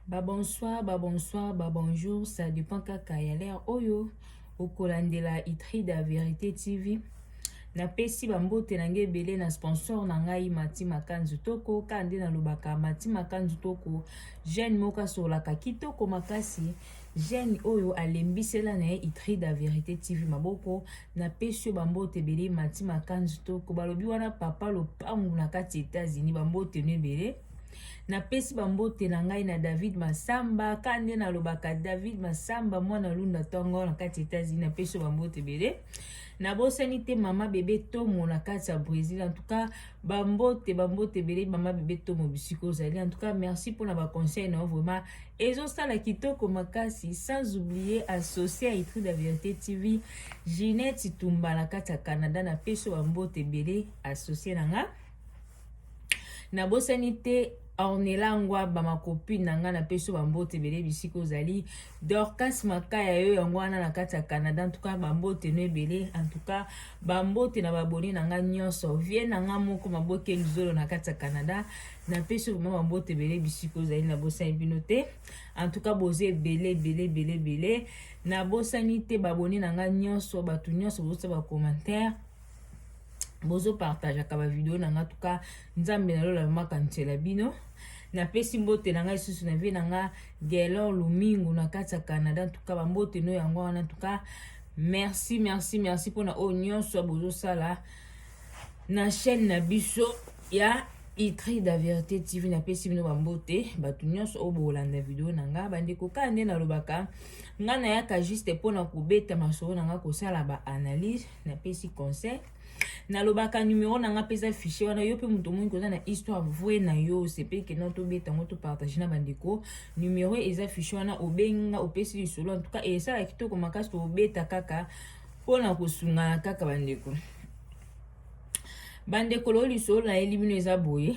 ba bonsoir ba bonsoir ba bonjour ça dépend kaka ya lere oyo okolandela itride ya verité tv napesi bambote na ngai ebele na sponsor na ngai mati makanzu toko ka nde nalobaka mati makanzu toko jeune moko asololaka kitoko makasi jeune oyo alembisela na ye itride ya verité tv maboko napesi yo bambote ebele mati makanzi toko balobi wana papa lopangu na kati ya etats-unis bambote no ebele napesi bambote na ngai na david masamba ka nde nalobaka david masamba mwana lunda tongo na kati ya etats-unis napesi yo bambote ebele nabosani te mama bebe tomo na kati ya brésil en tout cas bambote bambote ebele mama bebe tomo bisika ozali en tout cas merci mpona baconseil na yo vraiment ezosala kitoko makasi sans oublier associe ya itrude ya verité tv ginete tumba na kati ya canada na peso bambote ebele associe na nga nabosani te ornela ngwaba makopine na ngai napesi yo bambote ebele bisika ozali dorcas makaya yo yango wana na kati ya canada antuka bambote no ebele antuka Ba mbote na ba abonne na nga nyonso. Vie na nga moko maboke luzolo na kati ya Canada. Na pesi vraiment ba mbote bele bisiko ozali na bosani bino te. En tout cas boze ebele ebele ebele ebele. Na bosani te ba abonne na nga nyonso, bato nyonso bozo ba commentaire. Bozo partage ka ba video na nga tuka Nzambe na lola makanisela bino. napesi mbote na ngai lisusu na vie na nga gelor lumingu na kati ya canada ntuka bambote no yango wana ntuka Merci, merci, merci pona oyo nyonso bozosala na chaîne na biso ya Itri da Verite TV na pesi bino bambote bato nyonso oyo bokolanda video na nga bandeko kaka nde nalobaka nga nayaka juste mpo na kobeta masolo na nga kosala baanalyse napesi conseil nalobaka numero na nga mpeza fichier wana yo mpe moto omongi koza na histoire vraie na yo osepeli kenda tobeta yango topartage na bandeko numero eza fichier wana obengi nga opesi lisolo en tout cas esala kitoko makasi tobeta kaka mpo na kosungana kaka bandeko bandeko loo lisolo na ye libino eza boye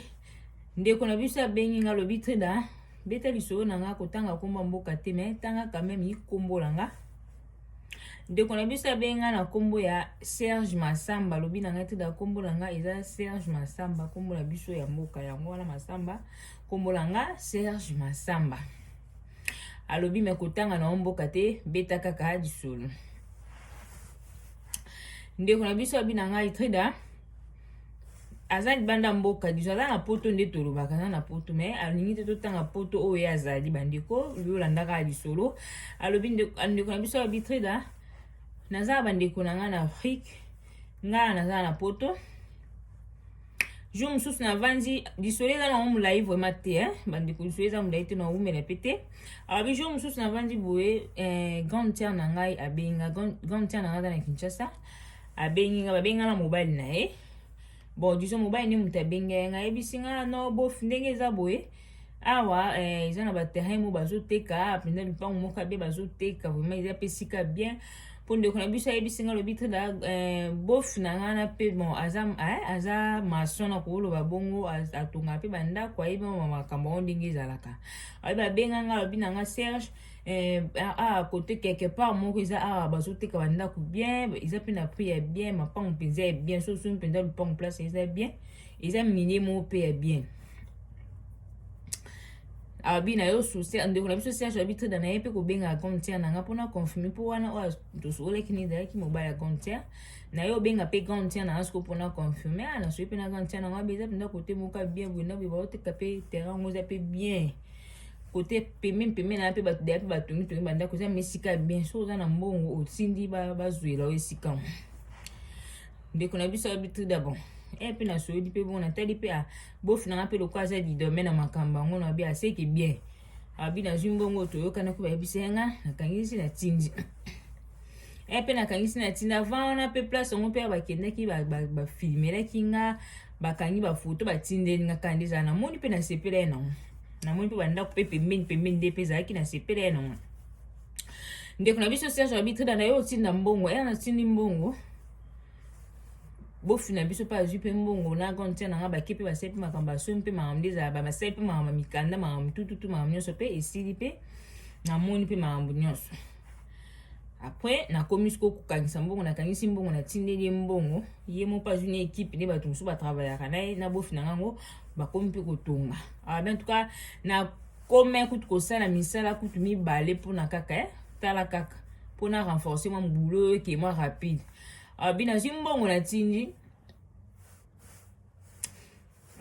ndeko na biso abengi nga lobi treda beta lisolo na nga kotanga komba mboka te me tanga kameme ikombola nga ndeko na biso abenga na nkombo ya serge masamba alobi na ngai tida nkombo na ngai eza serge masamba nkombo na biso ya mboka yango wana masamba nkombo na ngai serge masamba alobi me kotanga na yo mboka te beta kaka lisolo ndeko na biso abi na ngai trida aza libanda mboka disons aza na poto nde tolobaka aza na poto mais alingi te totanga poto oyo ye azali bandeko yolandaka lisolo alobi ndeko na biso ya bitrida naza na bandeko na ngai na afrique ngai naza na poto jour mosusu navandi lisolo eza nango molai vraimen te eh? bandeko lisolo eza molai te naumela mpe te alobi jour mosusu navandi boye eh, grande tiare na ngai abenga grande tiare na ngai aza na kinshasa abengi nga babengi nga na mobali na ye bon disons mobali nde moto abengi ye nga ayebisi nga no bof ndenge eza boye awa eh, eza na baterrain mo bazoteka mpenza lupango moko abe bazoteka vraiment eza mpe esika bien mpo ndeko na biso ayebisi nga lobi trida eh, bof na nga na mpe bon aza eh, aza mason na koloba bongo atonga mpe bandako ayebi makambo yango ndenge ezalaka ayebi abenga nga lobi na nga serge eh, ah, ah, kote quelque part moko eza awa ah, bazoteka bandako bien eza mpe na prix ya bien mapango mpenza ya bien soso mpenza lupango place eza bien eza milie moko mpe ya bien abi na yo souci ndeko na biso serge abi trida na ye mpe kobengaka comptiere na nga mpo na confirme mpo wana oyo tosololaki nini ezalaki mobali ya comptiere na yo obenga mpe comptiere na nga siko mpo na confirme a nasoki mpe na comptiere na nga mpe eza mpenza kote moka bien boye na boye baoteka mpe terrain yango eza mpe bien kote pembeni pembeni na mpe bato deya mpe batongi tongi bandako eza mesika ya bien soki oza na mbongo otindi bazwela yo esika mo ndeko na biso abi tri dabon e mpe nasoyodi mpe bongo natali mpe ah, bofi nanga mpe lokola aza didome na makambo yango na abi aseke ah, bien abi ah, nazwi mbongo toyokana mpe bayebisa yanga nakangisi natindi e mpe nakangisi natindi avant wana mpe place yango mpe bakendaki bafilmelaki nga bakangi bafoto batindeli nga kanda ezala namoni mpe nasepela ye nango namoni mpe bandako mpe pembeni pembeni nde mpe ezalaki nasepela ye nango ndeko na biso serge abitrida na ye otinda mbongo ena natindi mbongo bofi na biso mpe azwi mpe mbongo na grande sere nanga bake mpe basali mpe makambo asomi mpe makambo nde ezala basali mpe makambo mikanda makambo tututu makambo nyonso mpe esili mpe namoni mpe makambo nyonso après nakomi sikoyo kokangisa mbongo nakangisi mbongo natindeli ye mbongo ye mo mpe azwi na ekipe nde bato mosusu batravayaka na ye na bofi na ngango bakomi mpe kotonga awa ben tuka nakoma kutu kosala misala kutu mibale mpona kaka eh? tala kaka mpona renforce mwa mobulo oyo eke mwa rapide awa bi nazwi mbongo natindi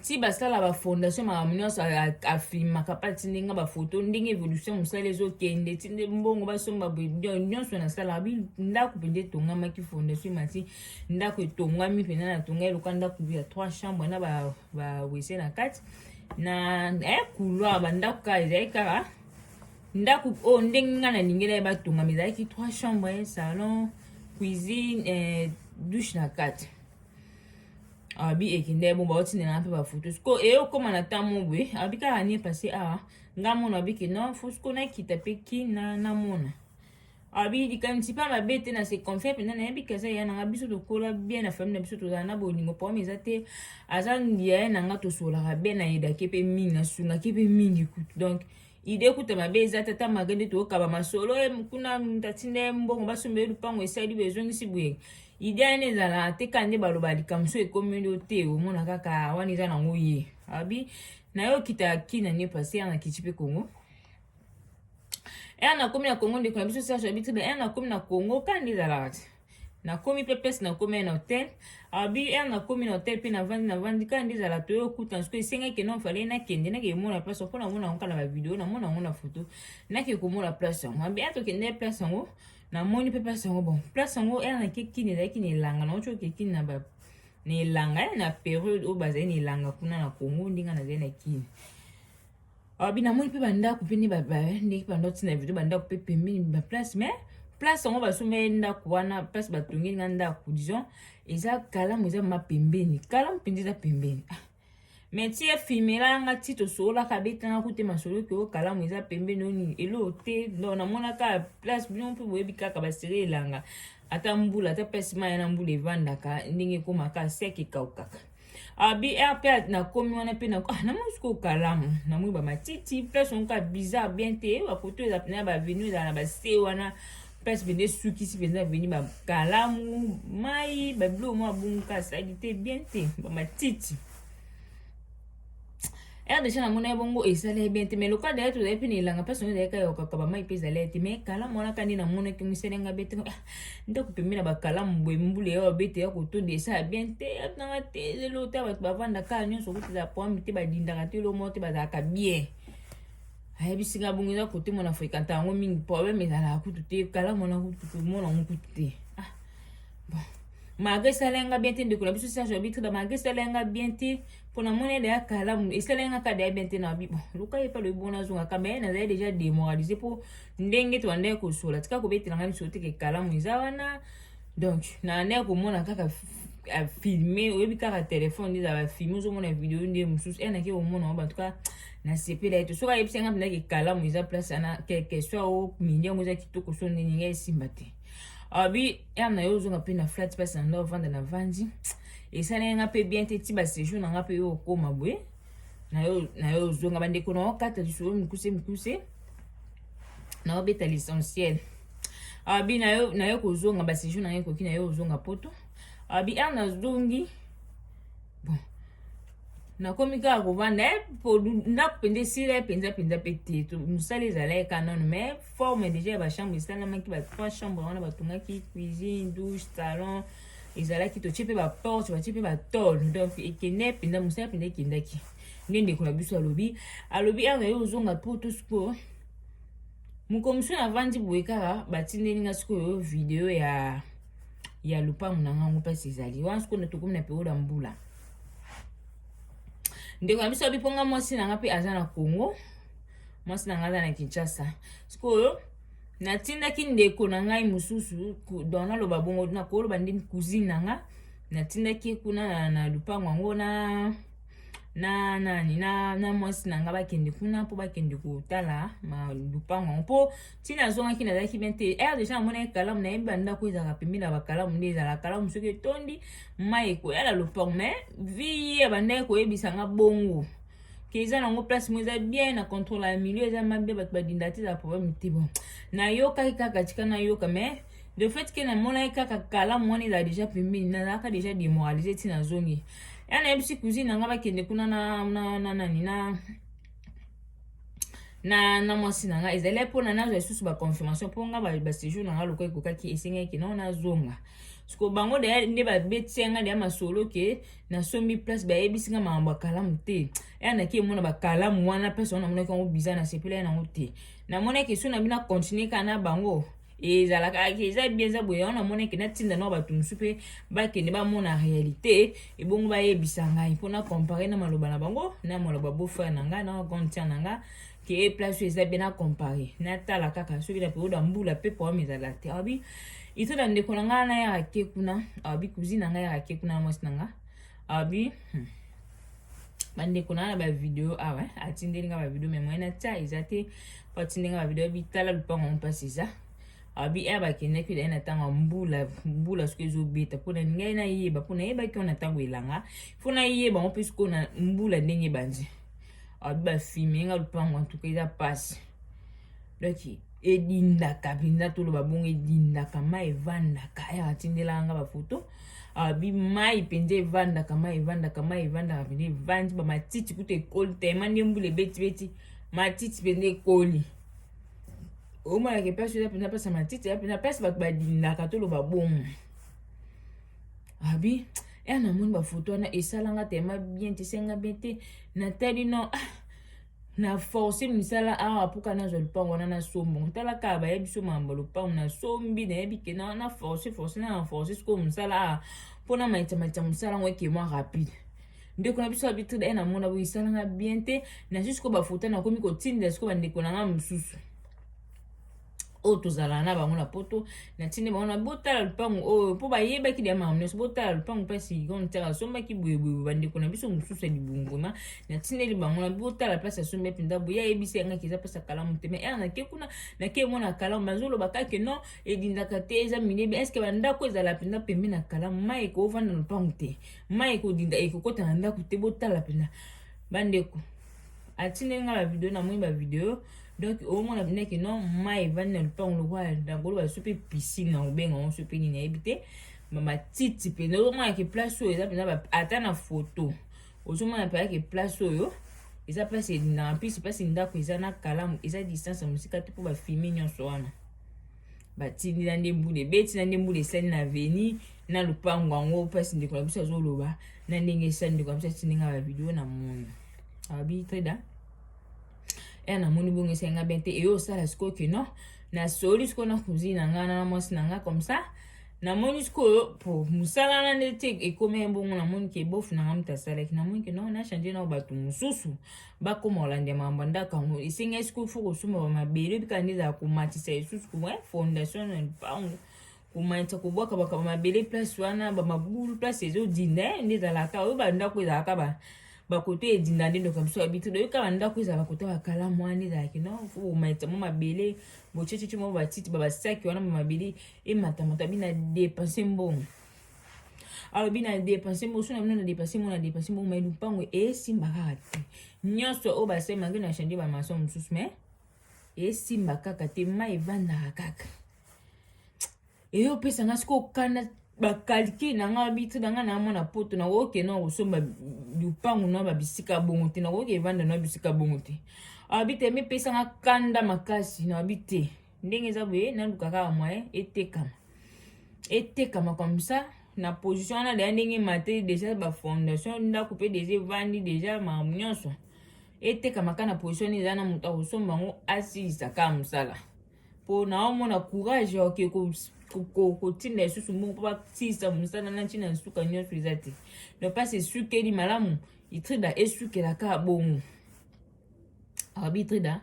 ti basala bafondation makambo nyonso afilmaka mpa ti ndenge bafoto ndenge évolution mosala ezokende ti nde mbongo basomba nyonso nasalaka bi ndako mpenza etongamaki fondation mati ndako etongami mpenza natonga eloka ndako ya trois chambre na bawese na kati na eh, couloir bandako kaka ezali kaka ndako oyo oh, ndenge ngai nalingela ye batongama ezalaki trois chambre salon cuisine eh, douche na kati abi ekende bo bauti na nga mpe bafoto siko eye okóma na ntango boye abi kaka nie pase awa nga mona abi ke non fo siko nakita mpe ki na namona abi likanisi mpe mabe te na se confie mpenza nayebi ke aza yaya na nga biso tokola bien na famille na biso tozala na bolingo problème eza te aza yaya na nga tosolaka bien na yedaki mpe mingi nasungaki mpe mingi kutu donc ide kuta mabe eza te ata malgre nde tokaba masolo ye eh, kuna moto atinda ye mbongo basomba ye lupango esali boye ezongisi boye ide yana ezala te kaka nde baloba likambo so ekomeli yo te omona kaka wana eza nango ye abi na yo okita kina ne pase yana kiti mpe kongo ere nakomi na kongo ndeko na biso serge abitibe ere nakomi na kongo kani ezalaka te nakomi mpe place nakomi na hotel abi ere nakomi na hotel mpe navandi navandi kaka nde ezala toye okuta nsuku esengaki kende fale nakende nake komona place mpo namona yango kala bavideo namona yango na foto nake komona place yango abi ere tokende place yango namoni mpe place yango bon place yango ere nake kini ezalaki na elanga na otyoke kini na ba na elanga na periode oyo bazali na elanga kuna na congo ndenge nazali na kini alobi namoni mpe bandako mpe nde ndenge mpe bandako ntina video bandako mpe pembeni baplace mais place yango basomeli ndako wana place batongeli nga ndako disons eza kalamu eza ma pembeni kalamu mpenza eza pembeni ah. mais ti efimela nga ti tosololaka abetanga kute masolo ke o kalamu eza pembeni oni elo te donc namonaka place bino mpe boyebi kaka basere elanga ata mbula ata place mai na mbula evandaka ndenge ekomaka seke ekaukaka abi ah, rpa nakomi wana mpe ah, namoni sikoyo kalamu namoni bamatiti place moko ya bizarre bien te bakoto eza mpena ya bavenu ezala na base wana place mpenza esukisi mpenza aveni bakalamu mai babiloko mwa bunga salite bien te bamatiti rdc namona ye bongo ezala ye bien te mais lokola daya tozali mpe na elanga mpe songo ezalaki ayokaka bamai mpe ezala ye te mais kalamu wana kandi namonaki mosali nga bete ah, ndako pembe na bakalamu boye mbula ya babete ya kotonda esala bien te atunanga te lelo ta bato bavandaka nyonso okuti ezala poami te badindaka te lomo te bazalaka bien ayebisi nga bongo eza kote mona frekanta yango mingi problème ezalaka kutu te kalamu wana kutu komona yango kutu te malgré esala yanga bien te ndeko na biso serge abitre ba malgré esala yanga bien te mpo na moni deya kalamu esala yanga ka deya bien te na bibo luka ye mpe lobi bona azonga kamba ye nazali deja démoralise mpo ndenge tobandaki kosola tika kobetela ngai lisolo teke kalamu eza wana donc naandaki komona kaka filme oyebi kaka telefone nde ezala bafilme ozomona video nde mosusu e nake komona ngo bantuka nasepela ye te soki ayebisi yanga mpendaki kalamu eza place ana quelque soit o midi yango eza kitoko so nini ngai esimba te abi ah, ere na yo ozonga mpe na flat place na ndao vanda na vandi esaleli nga mpe bien te ti basejour na nga mpe yo okoma boye na yo ozonga bandeko na okata lisolo mikuse mikuse na obeta l'essentiel abi na yo na yo kozonga basejour na yo ekoki na yo ozonga poto abi ere nazongi bon nakomi kaka kovanda eh, ndako mpenza esila mpenza mpenza mpe te mosala ezalaki kanono mais forme deja ya bachambre esalamaki ba trois chambre wana batongaki cuisine douche salon ezalaki totie mpe baporte batie mpe batole donc ekende mpenza mosala mpenza ekendaki nde ndeko na biso alobi alobi awa ye ozonga po to sikoyo mokomiso navandi boye kaka batindeli nga sikoyo video ya ya lopango na ngango mpasi ezali wana sikoyo tokomi na periode ya mbula ndeko na biso abi mpo nga mwasi na nga mpe aza na congo mwasi na ngai aza na kinshasa sikoyo natindaki ndeko na ngai mosusu don naloba bongo nakoloba nde cousine na ngai natindaki ye kuna na, na lupango yango na na nani na na mwasi na ngai bakende kuna mpo bakende kotala lupango yango mpo ntina azongaki nazalaki bien te ere deja namonaki kalamu nayebi bandako ezalaka pembeni na bakalamu nde ezalaka kalamu soki etondi mai ekoya na lupango mai vi ye abandaki koyebisa ngai bongo ke eza nango place mo eza bien na contrôle ya milieu eza mabe bato badinda te eza problème te bon nayokaki kaka tika nayoka mais de fait ke namonaki kaka kalamu wana ezala deja pembeni nazalaka deja demoralise ti nazongi ya nayebisi cousine na ngai bakende kuna na nani na, na, na, na na na mwasi na ngai ezali mpona nazwa lisusu baconfirmation mpo ngai basejour na ngai lokola ekokaki esengaki nao nazonga na siko bango deya nde babetisi ya ngai deya masolo ke nasombi place bayebisi ngai makambo ya kalamu te eya naki emona bakalamu wana place wana namonaki yango biza na sepela ya nango te namonaki so na bino akontinue kaka na bango ezalaka eza bien eza boye yango namonaki natinda nao bato mosusu mpe bakende bamona réalité ebongo bayebisa ngai mpo na compare na maloba na bango na maloba bofrere na ngai na grande tiere na ngai kee place oyo eza bien na compare natala kaka soki na periode ya mbula pepo wana ezala te abi iso na ndeko na ngai nayaka te kuna abi cousine na ngai yaka te kuna na mwasi na ngai abi hmm. bandeko na na bavideo awa ah atindeli ngai bavideo me moyen natya eza te po atindeli ngai bavideo abi tala lupango yango mpasi eza abi ere bakendaki daye na ntango ya mbula mbula soki ezobeta mpo na ngai nayeba mpo nayebaki wana ntango elanga mpo nayeba yango mpe sikoyo na mbula ndenge ebanzi alobi bafime nga lupango antuka eza mpasi donc edindaka mpenza toloba bongo edindaka mai evandaka aya atindelaka nga bafoto abi mai mpenza evandaka mai evandaka mai evandaka mpenza evandi bamatiti kutu ekoli tema nde mbula ebetibeti matiti mpenza ekoli omonaka mpasi oza mpenza mpasi ya matiti ya mpenza mpasi bato badindaka toloba bongo abi ya namoni bafoto wana esalanga tema bien te senga bien te natali no ah, na force misala awa mpo kana azwa lopango wana nasombo tala kaka baye biso mambo lopango nasombi nayebi ke na force force na na force sikoyo mosala awa mpo na maita maita mosala yango ekema rapide ndeko na biso abitri daye namona boye esalanga bien te nazwi sikoyo bafoto nakomi kotindela sikoyo bandeko na ngai mosusu oyo tozalaka na bango na poto natindi bango na botala lupangu oyo mpo bayebaki dia makambo nyonso botala lupangu mpasi yikon tiaka asombaki boyeboye bandeko na biso mosusu ya libunguma natindeli bango na botala mpasi asombi ya mpenza boye ayebisi yangaki eza mpasi akalamu te mai ere nake kuna nake emona kalamu bazoloba kake non edindaka te eza minebi eske bandako ezala mpenza pembe na kalamu mai ekoovanda lupangu te mai ekodinda ekokota na ndako te botala mpenza bandeko atindeli nga ba video na moni ba video donc omona bina ke non mai evandi na lupango lokola dangolo baso mpe piscine na kobenga yango so mpe nini ayebi te bamatiti mpenza ozomona ke place oyo eza mpenza ata na foto ozomona mpenza ke place oyo eza place elingaka mpisi place ndako eza na kalamu eza distance ya mosika te mpo bafilme nyonso wana batindi na nde mbula ebeti na nde mbula esali na veni na lopango yango mpasi ndeko na biso azoloba na ndenge esali ndeko na biso atindi nga bavideo na moni abi treda e namoni bongo esali nga bien te eyo osala sikoyo ke non nasoli sikoyo na cousine na ngai na mwasi na ngai comme ça namoni sikoyo po mosala na nde te ekomaki bongo namoni ke bofu na ngai moto asalaki namoni ke non na change nao bato mosusu bakoma kolanda makambo ya ndako yango esengeli sikoyo fo kosomba bamabele oyebi kaka nde ezala komatisa lisusu kuma eh, fondation na lipango komatisa kobwaka bakaba mabele place wana bamabulu place ezodinda eh, nde ezalaka oyo bandako ezalaka ba bakoto edinda nde ndoka biso yabi tudo yoka bandako eza bakoto bakala mwana ezalaki no fo bomatisa mwa mabele bocecece mwa batiti babasaki wana mwa mabele ematamata bina depense mbongo alobi na depense mosu na bino na depense mo na depense mo mai lupango esimba kaka te nyonso oyo basemaki na change bamaso mosusu mai esimba kaka te mai evandaka kaka eyo opesa nga sikoyo kanda bakalkile na nga bitre na nga na mwana poto nakoki kena kosomba lupango na babisika bongo te nakoki evanda na bisika bongo te alobi te mipesa nga kanda makasi nabi te ndenge eza boye naluka kaka moyen etekama etekama comme ça na position wana deja ndenge mateli deja bafondation ndako mpe deja evandi deja makambo nyonso etekama kaka na position eza na moto akosomba yango asilisa kaka mosala mpo naomona courage oke kotinda lisusu moko mpo basilisa mosala na ntina nsuka nyonso eza te no mpasi esukeli malamu itrida esukela kaka bongo abitrida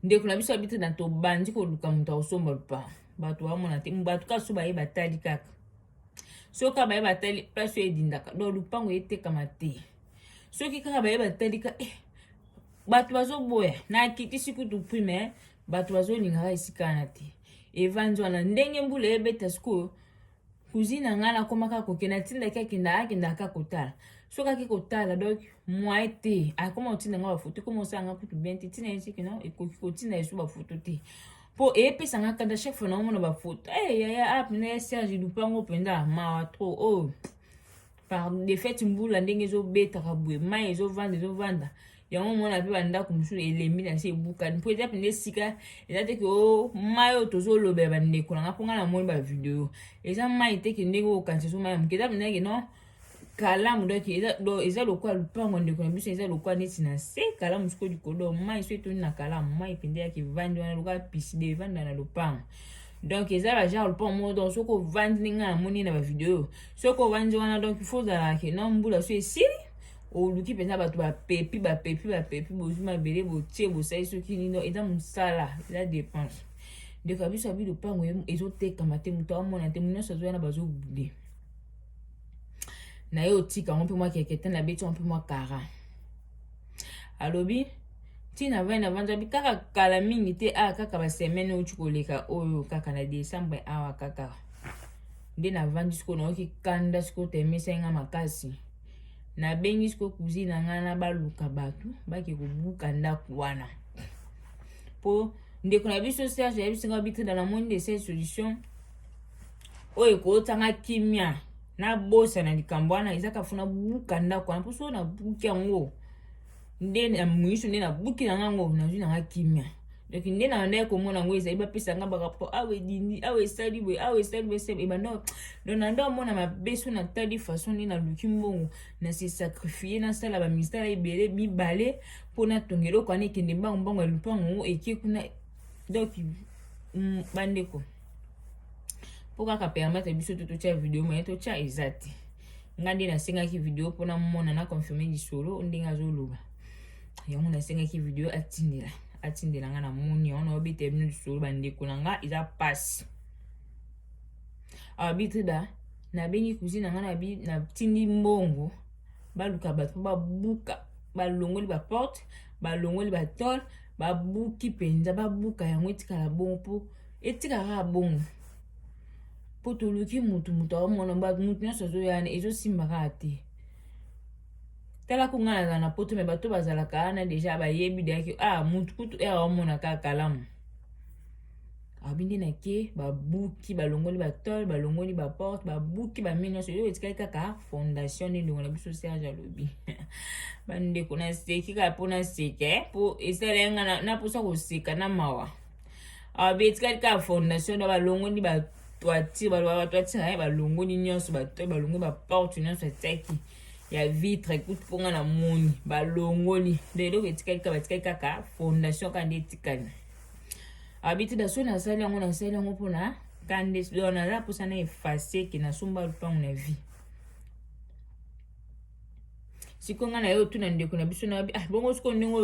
ndeko na biso abitrida tobandi koluka moto akosomba lupango bato bamona te bato kaso baye batali kaka soki kaka baye batali place oyo edindaka donc lupango etekama te soki kaka baye batali ka eh, bato bazoboya nakitisi kutu prix me bato bazolingaka esikana te evanzi wana ndenge mbula ebeta sikoyo cousine na ngai nakoma kaka kokende atindaki akenda akenda kaka kotala soki ake kotala donc moye te akoma kotinda ngai bafoto ekoma osala ngai kutu bien te ntina ye soki no ekoki kotinda yesu bafoto te mpo eyepesa ngai kanda chaque fois naomona bafoto e eh, yaya ape ah, na ye serge lupango mpenza mawa trop oyo oh. par defete mbula ndenge ezobetaka boye mai ezovanda ezovanda yango omona mpe bandako mosusu elembi na se ebukani mpo eza mpenza esika eza te ke o oh, mai oyo tozolobela bandeko nanga mpo ngai namoni bavideo eza mai te ke ndenge okanisa so mai ya moke eza mpenza ke non kalamu donc eza lokola lupango ndeko na biso eza lokola neti na se kalamu soko likolo mai so etoni na kalamu mai mpenza yaka evandi wana lokola piside evanda na lopango donc eza ba genre lopango moko donc soki ovandi ndenge namoni na bavideo oyo soki ovandi wana donc il faut ozala ke non mbula so esili oluki mpenza bato bapepi bapepi bapepi bozwi mabele botie bosali soki nino eza mosala eza dépense ndeko ya biso abi lopango ezotekama te moto amona te moto nyonso azoya na bazobude na ye otika yango mpe mwa kekete na beti yango mpe mwa kara alobi ntina vai na vanza bi kaka kala mingi te awa ah, kaka basemaine outi koleka oyo kaka na décembre awa kaka nde navandi siko nayoki kanda siko temesai nga makasi nabengi siko cousine na ngai na baluka bato bake kobuka ndako wana mpo ndeko na biso serge ayebisi ngai bitrida na moni de cette solution oyo ekoyotsa nga kimia nabosana likambo wana ezaka funa buka ndako wana mpo soo nabuki yango nde na miso nde nabuki na ngango nazwi na nga kimia donc nde na bandaki komona yango ezali bapesa nga barapport awa edindi awa esali boye awa esali boye se ebanda donc na nde omona mabe so natali façon nde naluki mbongo na se sacrifie nasala bamisala ebele mibale mpo natonga eloko wana ekende mbango mbango ya lupango yango eke kuna donc mm, bandeko mpo kaka permettre biso to totya video moye totya eza te nga nde nasengaki video mpo namona na confirme lisolo ndenge azoloba yango nasengaki video atindela atindela nga na moni yango naobetela bino lisolo bandeko na nga eza mpasi arbitre da nabengi cousine na nga natindi mbongo baluka bato mpo babuka balongoli baporte balongoli batole babuki mpenza babuka yango etikala bongo mpo etikala kaka bongo mpo toluki motu motu aomona bato motu nyonso azoyana ezosimba kaka te tala ko ngai nazala na poto me bato bazalaka wana deja bayebi deyaki ah motu kutu ere eh, aomona kaka kalamu abi nde nake babuki balongoli batole balongoli baporte babuki bamini nyonso yo etikali kaka fondation nde ndongo na biso serge alobi bandeko naseki kaka mpo naseka eh, mpo esalai ngai naposa koseka na mawa awa ah, betikali kaka fondation na balongoni ba toiture baloba ba toiture naye balongoni nyonso bato balongoni baporte nyonso atiaki ya vitre kutu mpo nga na moni balongoli nde eloko etikali kaka batikali kaka fondation kaka nde etikali abiti ah, daso nasali yango nasali yango mpona kande naza mposa na efase ke nasomba lupango na vie sikoyo ngai na ye otuna ndeko na biso nayobi ah bongo sikoyo ndenge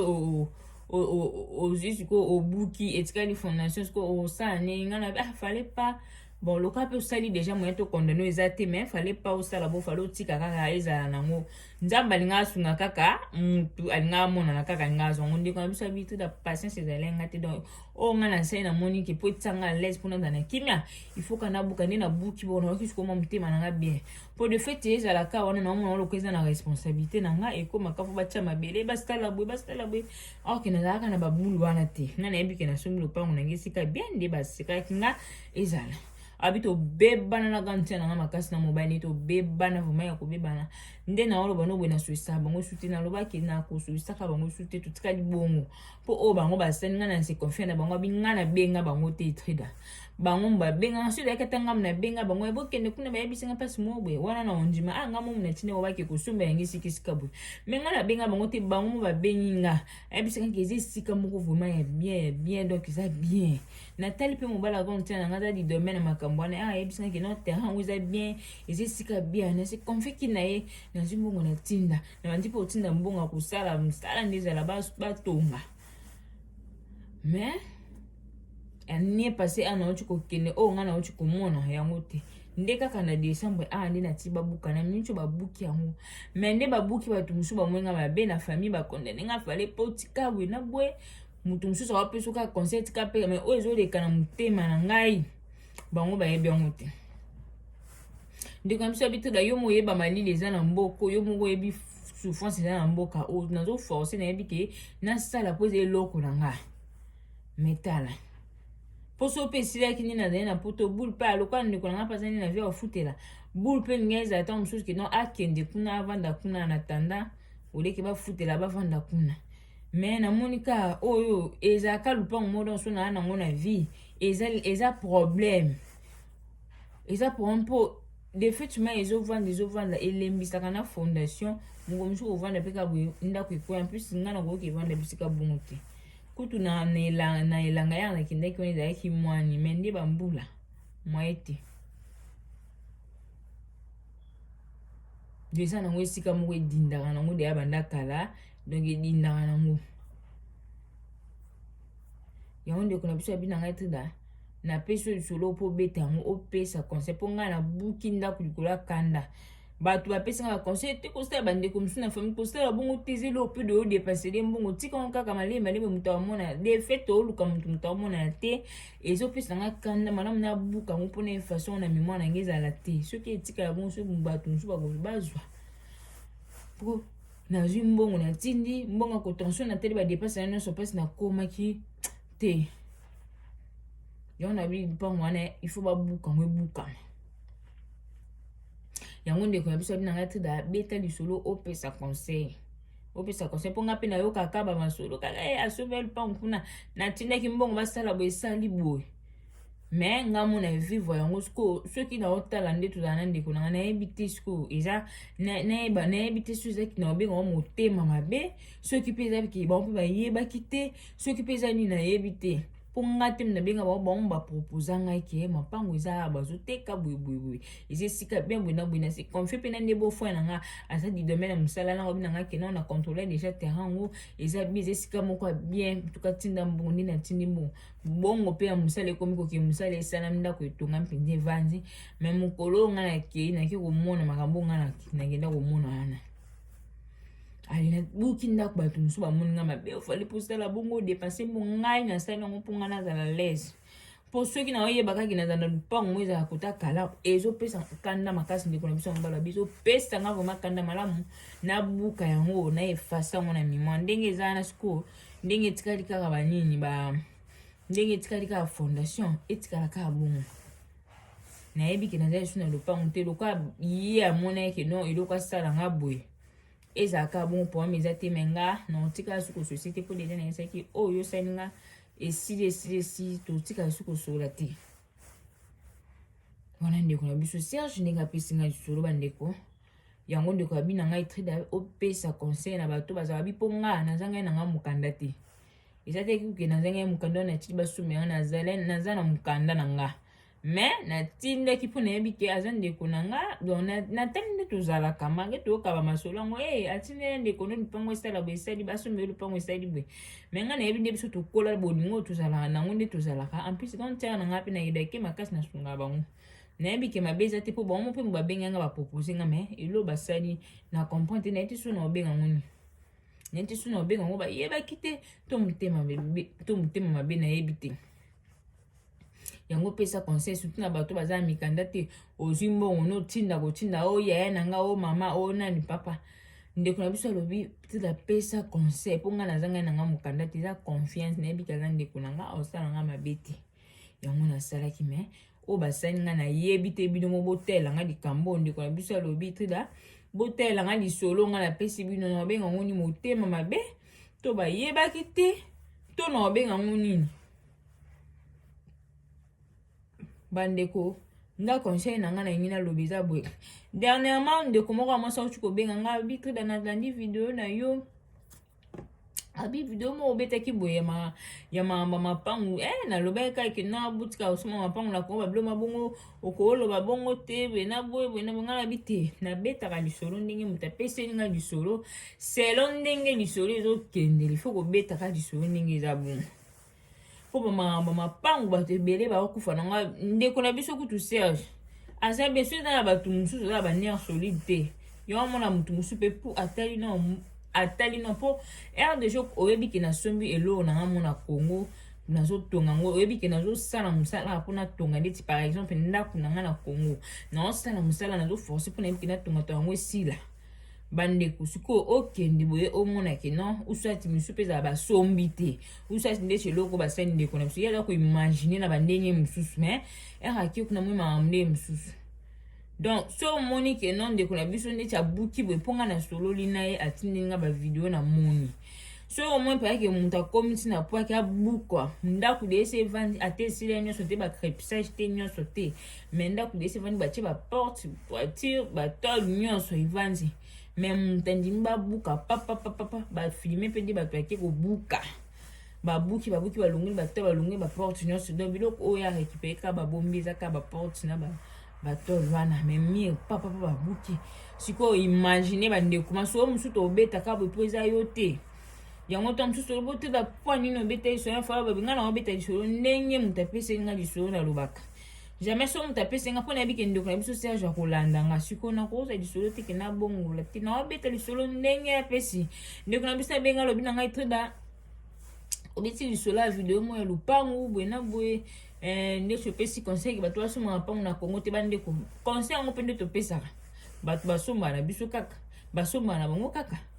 ozwi sikoyo obuki etikali fondation sikoyo osala ndenge ngai nayobi ah fale pas bon lokola mpe osali déjà moyen to condamne eza te mais fale pas osala bo fale otika kaka ezala nango nzambe alinga asunga kaka mutu alinga amonana kaka alinga azwa ngo ndeko na biso abi tout la patience ezali nga te donc oyo nga na nsai namoni ke mpo etisanga alaise mpo nazala na kimia il faut kana buka nde nabuki bonaoki sikomwa motema na nga bien po de fait ezala ka wana naomona oloko eza na responsabilité na nga ekomaka po batya mabele basala boye basala boye or ke nazalaka na babulu wana te nga nayebi ke nasombi lopango na nga esika bien nde basekalaki nga ezala abi tobebana na gantia na nga makasi na mobali tobebana vraimen ya kobebana nde naoloba noboye nasolisaka bango su te nalobaki nakosolisaka bango su te totikali bongo po oyo bango basali ngai na se confie na bango abi ngai nabenga bango te etrida bango babengaka soki oyaki ata ngai nabenga bango ya bokende kuna bayebisi ngai mpasi moko boye wana na ondima a ah, ngai momi na ntina yango bake kosomba yango esika esika boye me ngai nabenga bango te bango mo babengi nga ayebisi ngai ke eza esika moko vraiment ya bien ya bien donc eza bien natali mpe mobali yango ntina na ngai aza lidome na makambo wana ah, ayebisi ngai ke no terrain yango eza bien eza esika bien nase confie ki na ye nazwi mbongo na ntinda nalandi mpe otinda mbongo ya kosala mosala nde ezala batonga mais année passé awa nauti kokende oyo ngai nauti komona yango te nde kaka na décembre awa nde nati babuka na miniti oyo babuki yango mai nde babuki bato mosusu bamoi ngai mabe na famille bakondane ngai fale mpo tika boye na boye moto mosusu akopesa kaka conseil tika mpe mai oyo ezoleka na motema na ngai bango bayebi yango te ndeko na biso ya bitula yo moyeba malili eza na mboko yo moko oyebi souffrance eza na mboka oyo nazo force nayebi ke nasala mpo eza eloko na nga metala mposo mpe esilaki nini azali na poto bule mpe alokola ndeko na nga mpe azali na vie afutela bule mpe linga ezala ntango mosusu kino akende kuna avanda kuna na tanda oleki bafutela bavanda kuna me namoni ka oyo ezalaka lupango moko donso naa nango na vie eza, eza problème eza problème mpo defaitement ezovanda ezovanda elembisaka na fondation moko mosusu kovanda mpe kaka ndako ekwea plus ngai nakoki evanda bisika bongo te kutu na elanga yaka nakendaki wana ezalaki mwani mai nde bambula mwaye te deja nango esika moko edindaka nango deya banda kala donc edindaka nango yango ndeko na biso abina ngai trida napesi yo lisolo mpo obeta yango opesa conseil mpo ngai nabuki ndako likolo ya kanda bato bapesi ngai baconseil te kosala bandeko mosusu na famille kosala bongo te ezeli opido oyo depasele mbongo tika yango kaka malemi malemi moto amona defete oluka moto moto amona te ezopesa ngai kanda malamu nabuka yango mpo na façon na memoire na ngai ezala te soki etikala bongo soki bato mosusu bakoki bazwa nazwi mbongo natindi mbongo ya cotention natali badepense na nyonso mpasi nakomaki te yango na bili mpango wana il faut babuka yango ebukama yango ndeko na biso abi na ngai trida abeta lisolo opesa conseil opesa conseil mpo ngai mpe nayokaka bamasolo kaka e eh, asobe lupango kuna natindaki mbongo basala boye esali boye mais nga mona vivre yango sikoyo soki naotala nde tozala na ndeko nanga nayebi te sikoyo eza nayeba nayebi te soki ezaki na obenga ngo motema mabe soki mpe ezaki bango mpe bayebaki te soki mpe eza nini nayebi te mpo nga te nabenga bango bango baproposa ngai ke mapango eza awa bazoteka boyeboyeboye eza esika bien boye na boye na se confie mpe na nde bofoi na nga aza didome na mosala na ngobi na nga kena na controle deja terrain yango eza bi eza esika moko ya bien tuka tinda mbongo nde natindi mbongo mbongo mpe ya mosala ekomi koke mosala esalami ndako etonga mpenza evandi me mokolo oyo ngai nakei nake komona makambo oyo ngai nakenda komona wana buki ndako bato mosusu bamoni ngai mabe ofali mposala bongo depanse mpo ngai nasali yango mpo ngai nazala lese mpo soki naoyeba kaki nazala na lupango ngo ezala kota kala ezopesa kanda makasi ndeko na biso ya mobala biso pesa ngai vraimen kanda malamu nabuka yango na efasa yango na mimoi ndenge eza wana sikoyo ndenge etikali kaka banini ba ndenge etikali kaka fondation etikala kaka bongo nayebi ke naza lisusu na lopango te lokola ye amonaki ke non eloko asala nga boye ezala kaka bongo poame eza te me nga na otika lisusu kososi te mpo deja nayesaki oyo oh, yosali nga esili esili esili totika lisusu kosolola te wana ndeko na biso serge ndenge apesi nga lisolo bandeko yango ndeko ya bina ngai trida opesa conseil na bato bazala bi mpo nga naza ngai na ngai mokanda te eza te kuke naza ngai mokanda wana natiki basumi yango naza na mokanda na nga me natindaki mpo nayebi te aza ndeko na nga don natali nde tozalaka mange toyoka bamasolo yango e eh, atindela ndeko no lupango esala boye esali basumi yo lupango esali boye me ngai nayebi nde biso tokola bolingo tozalaka nango nde tozalaka en plus quand tere na ngai mpe nayedaki makasi nasunga bango nayebi ke mabe eza te mpo bango mpe babengi nga bapropose nga me elo basali na comprendre te nayebi te so na obenga ngo nini nayebi te so na obenga ngo bayebaki te to motema mabe to motema mabe nayebi te yango opesa conseil surtout na bato baza na mikanda te ozwi mbongo notinda kotinda o oh, yaya na nga o oh, mama o oh, nani papa ndeko na biso alobi peut-être apesa conseil mpo ngai naza ngai na ngai mokanda te eza confiance nayebi kaza ndeko na ngai osala ngai mabe te yango nasalaki me oyo basali nga nayebi te bino mo botela nga likambo oyo ndeko na biso alobi trida botela nga lisolo nga napesi bino na babenga ngo nini motema mabe to bayebaki te to na babenga ngo nini bandeko nga conseil na nga na ngi naloba eza boye dernièrement ndeko moko ya mwasi akuti kobenga nga bitrida nalandi video na yo abi video moko obetaki boye ya mama mapangu e eh, nalobaki kaka ke na butika osoma mapangu nakoba bilo mabongo okoloba bongo te boye na boye boye na boye ngai nabi te nabetaka lisolo ndenge moto apeseli ngai lisolo selo ndenge lisolo ezokende lifo kobetaka lisolo ndenge eza bongo mpo bamakambo mapangu bato ebele bakokufa na nga ndeko na biso kutu serge aza be soki eza na bato mosusu eza na banere solide te yango amona moto mosusu mpe mpo atali na atali na mpo aire de joc oyebi ke nasombi eloko na nga mona congo nazotonga yango oyebi ke nazosala mosala mpo natonga ndeti par exemple ndako na nga na congo nazosala mosala nazoforce mpo nayebi ke natonga to yango esila bandeko sikoyo okende boye omonake non usati mosusu mpe ezala basombi te usati ndeti eloko basali ndeko na biso ye aza koimagine na bandenge mosusu mais ere akie kuna moi makambo ndenge mosusu donc so omoni ke non ndeko na biso ndeti abuki boye mpo ngai nasololi na ye atindi ngai bavideo na moni soki omoni mpenza ke moto akomi ntina mpo ake abukwa ndako de esi evandi ata esila nyonso te bacrepsage te nyonso te mais ndako esi evandi batie baporte voiture batole nyonso evandi mais moto andimi babuka papapapapa bafilme mpe nde bato yake kobuka babuki babuki balongoli batole balongoli baporte nyonso donc biloko oyo ya récupere kaka babombi eza kaka baporte na ba batole wana mais mire papapa babuki sikoyo imagine bandeko masolo mosusu tobetaka boye mpo eza yo te yango ntango mosusu olobi te bapoi nini obeta lisolo na fala babi ngai na obeta lisolo ndenge moto apesi ngai lisolo nalobaka jamais so moto apesi ngai mpo nayebi ke ndeko na biso serge akolanda ngai sikoyo nakozwa lisolo te ke nabongola te na obeta lisolo ndenge apesi ndeko na biso abenga alobi na ngai toda obeti lisolo ya video moko ya lopangu boye na boye eh, nde topesi conseil ke bato basomba mapangu na kongo te bandeko conseil yango mpe nde topesaka bato basomba na biso kaka basomba na bango kaka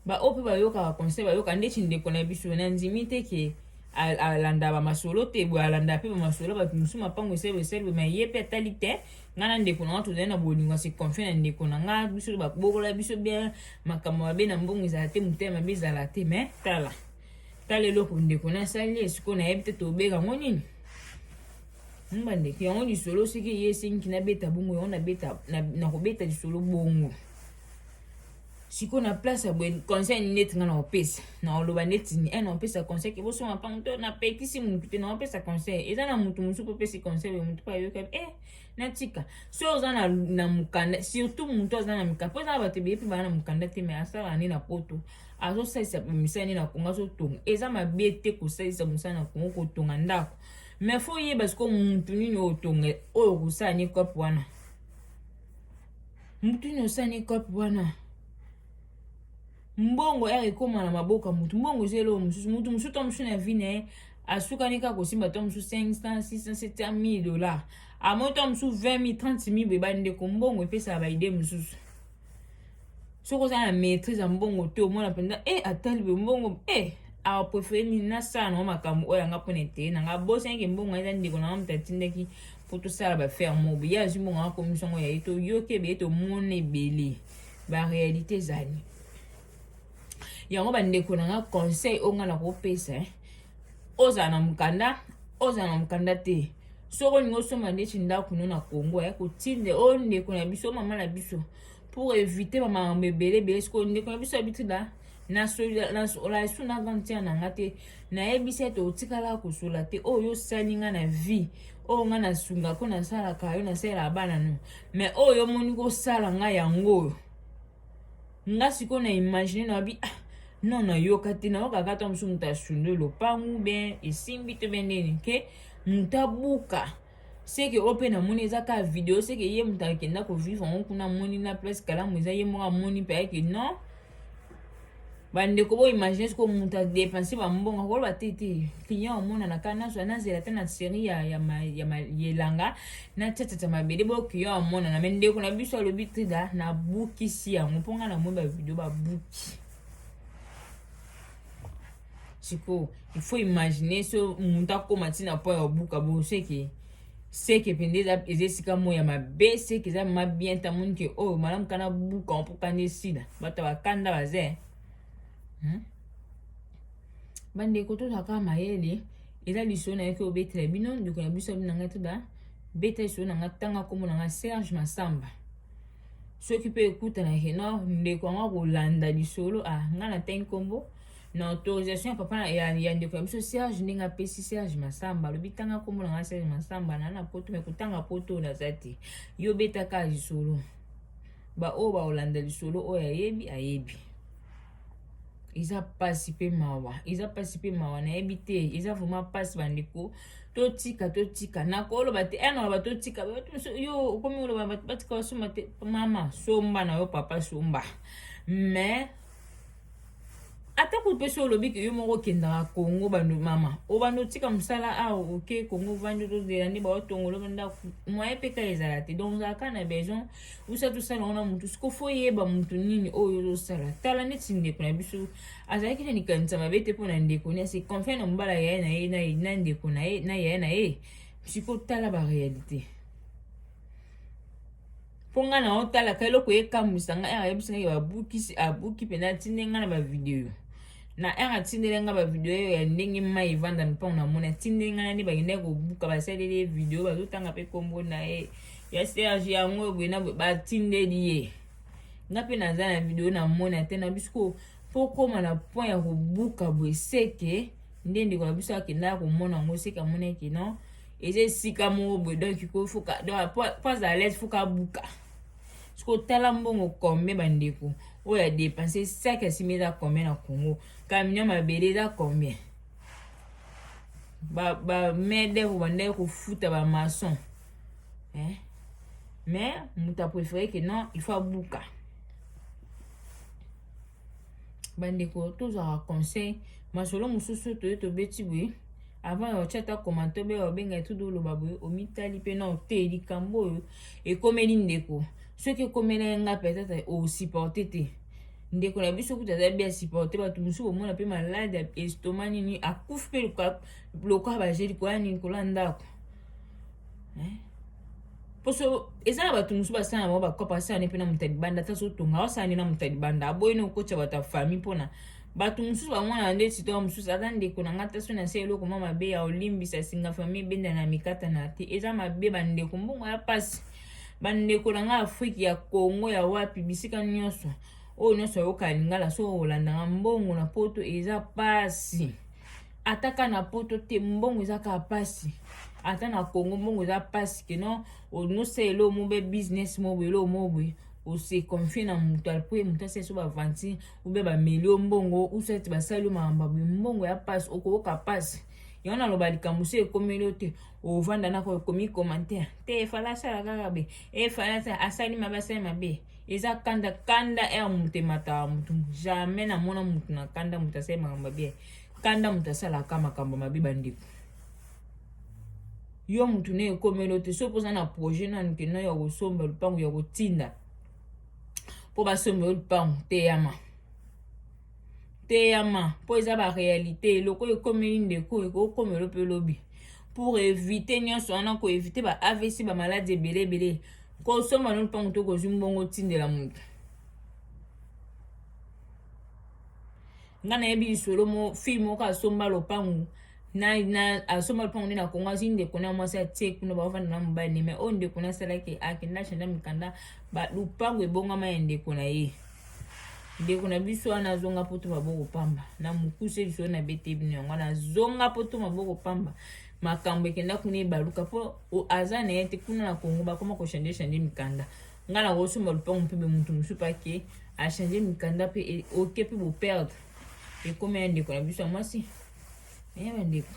baoyo mpe bayokaka conseil bayoka ndeti ndeko na biso nandimi te ke alanda bamasolo te boye alanda mpe bamasolo bato mosusu mapango esalelo esalelo ma ye mpe atali te ngai na ndeko na ngai tozali na bolingo ya seconfie na ndeko na ngai biso babokola biso bia makambo mabe na mbongo ezala te motema mabe ezala te me tala tala eloko ndeko nasali ye sikoyo nayebi te tobeka yango nini mba ndeko yango lisolo soki eye esengi nabeta bongo yango nakobeta lisolo bongo sikoyo na place ya boye conseil neti ngai naopesa naoloba neti ni eh, naopesa conseil ke bosonga mpango to napekisi motu te naopesa conseil eza na motu mosusu mpo opesi conseil oyo motu mpo ayoka e eh, natika so oza na, na mokanda surtout motu aza na mikanda mpo eza na bato ebele mpe baa na mokanda te mai asala nde na poto azosalisa misala nini na kongo azotonga eza mabe te kosalisa mosala na kongo kotonga ndako mais fo oyeba sikoyo mutu nini otonga oyo okosala ni cope wana mutu nini osala ni cope wana mbongo ere ekóma na maboko ya mutu mbongo eza eloko mosusu mutu mosusu to mosusu na vi na ye asukani kaka kosimba to mosusu 500 600 700 dollar amoi to mosusu 20 000 30 000 boye bandeko mbongo epesaka baide mosusu soki oza na maîtrise ya mbongo te omona mpenza e eh, atali boye mbongo e eh, apreferye nini nasala nango makambo oyo yanga mpona eteye na ngai abosanaki mbongo eza ndeko na ngai moto atindaki mpo tosala baferre mobe ye azwi mbongo akomisi yango ya ye toyoki ebele tomona ebele baréalité ezali yango bandeko na ngai conseil oyo ngai nakopesa eh. ozala na mokanda ozala na mokanda te soki olingi osomba ndeti ndako no na congo ya kotinde oyo ndeko na biso mama na biso pour éviter bamakambo ebele ebele sikoyo ndeko na biso abitida nalasu na gantia na nga te nayebisi ete otikala kosola te oyo yo osali nga na vie oyo nga nasungako nasalaka yo nasalelaka bana no mais oyo omoni kosala nga yango oyo nga sikoyo na imagine na bi ah, non nayoka te nayoka kaka ntango mosusu moto asundwe lopangu ben esimbi to ben nini ke moto abuka seke oyo mpe namoni eza kaka video seke ye moto akenda kovivre yango kuna amoni na place kalamu eza ye moko amoni mpe ayeke non bandeko bo imagine siko moto adepense bambongo akoloba te te client omonana kaka nazwa nazela te na serie ya, ya, ya, ya elanga na tiatata mabele bo client omonana me ndeko na biso alobi trida nabukisi yango mpo ngai namoni bavideo babuki sikoyo il faut imaginer so moto akoma ntina mpo ya obuka bo seke seke mpenza eza eza esika moko ya mabe seke eza ma bien ta moni ke oyo oh, malamu kana buka mpo kanda esila bato bakanda baze hmm? bandeko tozalaka mayele eza lisolo na yo ke obetela bino ndeko na biso abi na ngai toda beta lisolo na ngai ntanga nkombo na ngai serge masamba soki mpe ekutana ke no ndeko yango akolanda lisolo ah ngai natangi nkombo na autorisation ya papa ya, ya ndeko ya biso Serge ndenge apesi Serge Masamba alobi tanga kombo na ngai Serge Masamba na na poto me kotanga poto naza te yo betaka lisolo baoyo baolanda lisolo oyo ayebi ayebi eza mpasi mpe mawa eza mpasi mpe mawa nayebi te eza vraimen mpasi bandeko totika totika nakoloba te eh, naloba totika yo okomi oloba batika basomba te mama somba na yo papa somba mais ata kutu mpe so olobi ke yo moko okendaka kongo bando mama obanda otika mosala awa ah, oke kongo ovandi ozozela nde baotongola bandako moye mpe kaka ezala te donc ozalaka na besoin osa tosala wana motu siko fo oyeba motu nini oyo ozosala tala neti ndeko na biso azalaki na likanisa mabe te mpo na ndeko ne se confie na mobala yaye na ye na ndeko na ye na yaye na ye siko tala barealité mpo ngai na otalaka eloko ekamwisa ngai ere ayebisi ngai babukisi abuki mpenza atindeli ngai na bavideo na ere atindeli ngai bavideo ya ndenge mai evanda na mpango namoni atindeli ngai na nde bakendaki kobuka basaleli ye video bazotanga mpe nkombo na ye ya serge yango boye na boye batindeli ye ngai mpe naza na video namoni ate na biso mpo okoma na point ya kobuka boye seke nde ndeko na biso akendaka komona yango seke amonaki non eza esika moko boye donc ko fuka donc po azala lese fuka buka siko tala mbongo combien bandeko oyo adepense saki asimi eza combien na congo camion mabele eza combien bamedevre bandaki kofuta bamaçon eh? mais moto apréféré ke non il faut abuka bandeko tozwaka conseil masolo mosusu toye tobeti boye avant ya otya ata komante obe obenga etude oloba boye omitali mpe na ote likambo oyo ekomeli ndeko soki ekomela ye ngai peut-être osupporte te ndeko na biso kutu aza bien supporte bato mosusu komona mpe malade estoma nini akufi mpe lokola baje likolo ya nini likolo ya ndako eh? poso eza na bato mosusu basala na bango bakopa asala ne mpe na moto ya libanda ata sotonga asala nde na moto ya libanda aboyi ne kokotya bato ya famille mpona bato mosusu bamwana nde sitoa mosusu aza ndeko na ngai taso na se eloko mwa mabe ya olimbisa singa famille ebenda na mikata na te eza mabe bandeko mbongo ya mpasi bandeko na ngai afrike ya congo ya wapi bisika nyonso oyo nyonso ayoka lingala so olandaka mbongo na poto eza mpasi ata ka na poto te mbongo eza kaka mpasi ata na congo mbongo eza mpasi keno onosa elo mo be business mo boye elo mo boye ose confie na moto alpo ye moto asali so bavanti obe bameli yo mbongo usa ete basali yo makambo boye mbongo ya mpasi okoyoka mpasi yango naloba likambo so ekomeli yo te ovanda nako ekomi commentaire te efala asala kaka be efala asali mabe asali mabe eza kanda kanda ere moto emataka motu jamais namona motu na kanda moto asali makambo mabe kanda moto asalaka makambo mabe bandeko yo motu na ekomelo te soki mpoza na projet nanu kenda ya kosomba lupango ya kotinda mpo basomba yo lupango teyama teyama mpo eza barealité eloko oyo ekomeli ndeko oyo ekokomelo mpe lobi pour evite nyonso wana koevite ba avc bamaladi ebele ebele kosomba no mpango to kozwi mbongo otindela moto ngai nayebi lisolo mo fille moko asomba lopango na na asomba lopango nde na kongo azwi ndeko na mwasi atie kuna baofanda na mobali ne mai oyo ndeko na asalaki akenda chanda mikanda ba lopango ebongama ya ndeko na ye ndeko na biso wana azonga poto maboko pamba na mokuse biso na bete bino yango wana azonga poto maboko pamba makambo ekenda kuna ebaluka mpo aza na ye te kuna na kongo bakoma kochange change mikanda ngai nakosomba lupango mpe be motu mosusu pake achange mikanda mpe e, oke mpe boperde ekomi ya ndeko na biso ya mwasi eya bandeko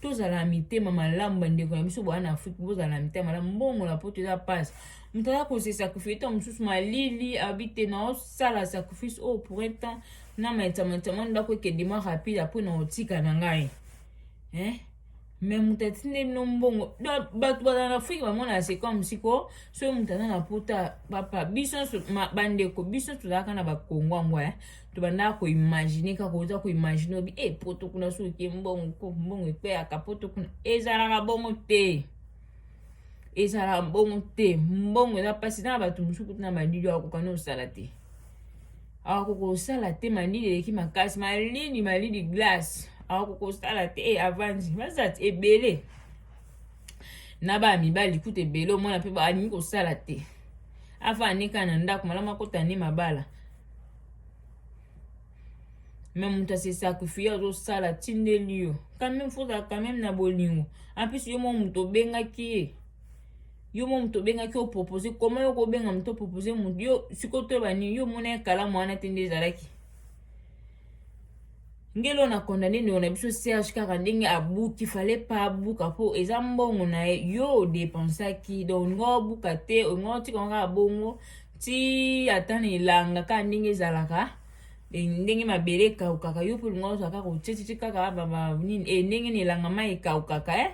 tozala na mitema malamu bandeko na biso bwana na afrike bozala na mitema malamu mbongo na poto eza mpasi moto aza kose sacrifice ntango mosusu malili abi te naosala sacrifice oyo oh, pour un temps na maitamaitama ndako ekende mwa rapide apres naotika na ngai eh? me moto atindeli bino mbongo bato bazala na afrike bamona se comme siko soki moto aza na pota papa biso bandeko biso tozalaka na bakongo yango eh? tobanda koimagine kaka oza koimagine obi e eh, poto kuna soki oke mbongo mbongo ekweyaka poto kuna ezalaka bongo te ezalaka bongo te mbongo eza mpasi na bato mosusu kutu na malili akoka na osala te akoka kosala te malili eleki makasi malili malili glace akoka kosala te e avandi bazati ebele na baya mibali kutu ebele omona mpe balingi kosala te afandika na ndako malamu akota nde mabala me moto ase sacrifie azosala atindeli yo quand même fozala quand même na bolingo en plus yo mwa moto obengaki ye yo mwa moto obengaki opropose koma yo kobenga moto opropose moto yo sikoyo toyeba nini yo omona ye kalamu wana te nde ezalaki ngeli oyo na condamne ndeko na biso serge kaka ndenge abuki fale pa abuka mpo eza mbongo na ye yo odepensaki donc olinga obuka te olinga otika ngo kaka bongo ti ata na elanga kaka ndenge ezalaka e, ndenge mabele ekaukaka yo mpe olinga ozwa kaka otyetiti kaka nini e, ndenge na elanga mai ekaukaka e eh?